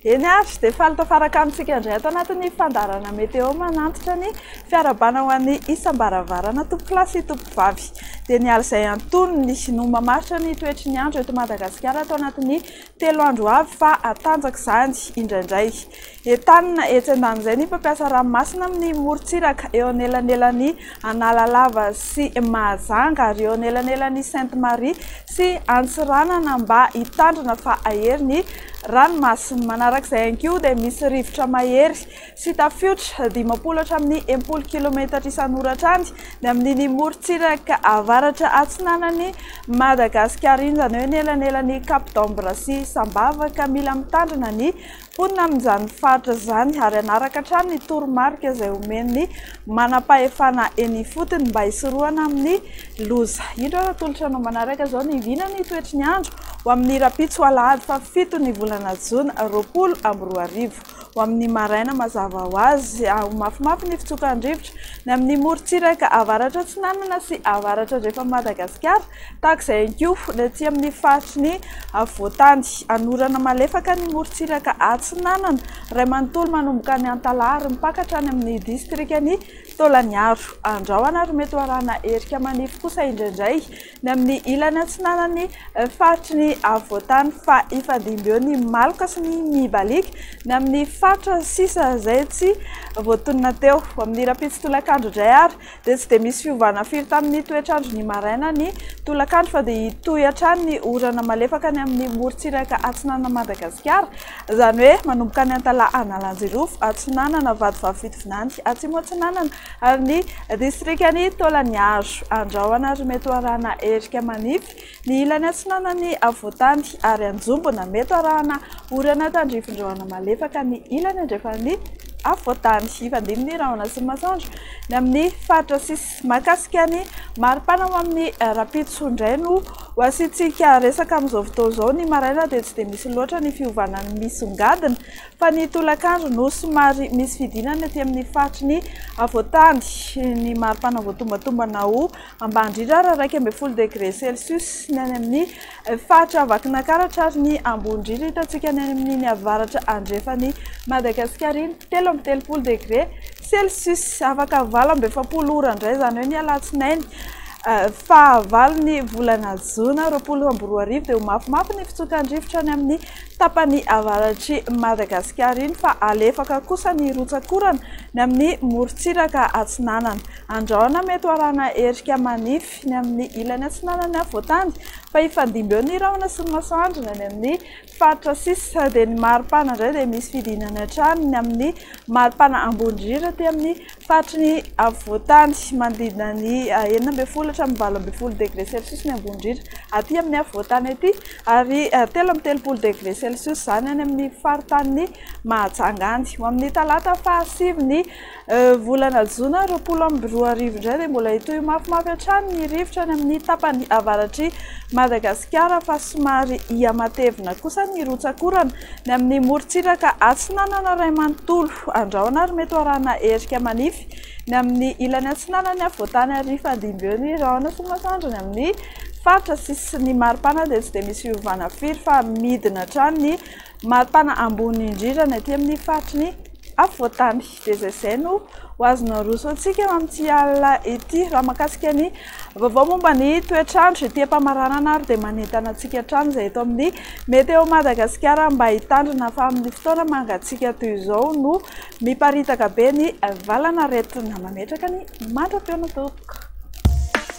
Eny avy dia faly tafaraka amintsika indray ato anatin'ny fandarana meteo manantitra ny fiarabana ho an'ny isam-baravarana tompokolahy sy tompokovavy. Dia ny alina izay antonony no mamaritra ny toetry ny andro eto Madagasikara ato anatin'ny Telo andro avy fa hatanjaka izany indraindray. Entanina etsy andanin'izay ny mpampiasa ranomasina amin'ny morontsiraka eo anelanelan'i Analalava sy Mahajanga ary eo anelanelan'i Sainte Marie sy Antsiranana mba hitandrina fa hahery ny ranomasina. Manaraka izay ihany koa dia misy rivotra mahery sy tafiotra dimampolo hatramin'ny enimpolo kilometatra isan'oratra any amin'iny morontsiraka avaratra atsinanan'i Madagasikara iny, izany hoe ny elanelan'i Cap d'Ambre sy Sambava, ka mila mitandrina ny mponina amin'izany faritra izany ary hanaraka hatrany ny toromarika izay omen'ny manampahefana eny ifotony mba hisorohana amin'ny loza. Indro ary atolotra anao manaraka izao ny vina ny toetry ny andro ho amin'ny rahampitso alahady fahafito ny volana jona roapolo amby roa arivo. Ho amin'ny maraina mazava ho azy, aho mafimafy ny fitsokan-drivotra. Ny amin'ny morontsiraka avaratra-atsinanana sy avaratra-andrefan'i Madagasikara, tahaka izay ihany koa ny aty amin'ny faritry ny afovoan-tany. Hanorana malefaka ny morontsiraka atsinanana iray manontolo manomboka any Antalaha ary mipaka hatrany amin'ny distrikan'i Taolagnaro. Andrahona ary mety ho arahana erika manify kosa indraindray Ny amin'ny ilany atsinanan'ny faritry ny afovoantany fa hifandimby eo ny maloka sy ny mibaliaka. Ny amin'ny faritra sisa izay tsy voatonona teo. Amin'ny rahampitso tolakandro indray ary dia tsy dia misy fiovana firy tamin'ny toetr'andro ny maraina ny tolakandro fa dia hitohy hatrany ny orana malefaka ny amin'ny morontsiraka atsinanan'i Madagasikara izany hoe manomboka any Antalaha Analanjirofo atsinanana, Vatovavy Fitovinany atsimo atsinanana, Ary ny distrikan'i Taolaniaro. Andrahona ary mety ho arahana erika manify ny ilany atsinanan'i Afovoantany ary Anjombona. Mety ho arahana orana tandrifindrahona malefaka ny ilany andrefan'i Afovoantany. Hifandimby ny rahona sy ny masoandro ny amin'ny faritra sisa. Mahakasika ny maripana ho amin'ny rahampitso indray no ho asiantsika resaka amin'izao fotoana izao. Ny maraina dia tsy dia misy loatra ny fiovana misongadina Fa ny tolakandro no somary misy fidinana ety amin'ny faritry ny afovoantany. Ny maripana voatombatombana ho ambany indrindra ary iraika ambin'ny folo degre celcius ny any amin'ny faritra Vakinakaratra ary ny ambony indrindra hitantsika ny any amin'iny avaratra andrefan'i Madagasikara iny, telo amby telopolo degre celcius. Afaka valo amby efapolo ora indray, izany hoe ny alatsinainy fahavalon'ny volana jona roapolo amby roa arivo dia ho mafimafy ny fitsokan-drivotra any amin'ny. tapany avaratr'i Madagasikara iny fa alefaka kosa ny rotsak'orana ny amin'ny morontsiraka atsinanana. Andrahona mety ho arahana erika manify ny amin'ny ilany atsinanan'ny afovoan-tany fa hifandimby eo ny rahona sy ny masoandro ny any amin'ny faritra sisa dia ny maripana indray dia misy fidinany hatrany ny amin'ny maripana ambony indrindra aty amin'ny Faritry ny afovoantany, manodidina ny enina ambin'ny folo hatramin'ny valo ambin'ny folo degre celcius ny ambony-drihitra aty amin'ny afovoantany aty, ary telo amby telopolo degre celcius izany any amin'ny faritanin'i Mahajanga any. Ho amin'ny talata fahasivy ny volana jona roapolo amby roa arivo indray dia mbola hitohy mafimafy hatrany ny rivotra any amin'ny tapany avaratr'i Madagasikara, fa somary hihamatevina kosa ny rotsak'orana. Ny amin'ny morontsiraka atsinanana iray manontolo, andrahona ary mety ho arahina erika manify. Ny amin'ny ilany atsinanany afovoantany ary hifandimby eo ny rahona sy ny masoandro. Ny amin'ny faritra sisin'ny maripana dia tsy dia misy fiovana firy fa midina hatrany ny maripana ambony indrindra ny aty amin'ny faritry ny afovoantany. Dia izay izay no ho azon'ny Rousseau-ntsika amin'ity alina ity. Raha mahakasika ny vaovao momba ny toetr'andro ety am-pamaranana ary dia manentana antsika hatrany izay eto amin'ny Météo Madagasikara mba hitandrina fa amin'ny fotoana mangatsiaka toy izao no miparitaka be ny valanaretina. Mametraka ny mandra-pihaona tompoko.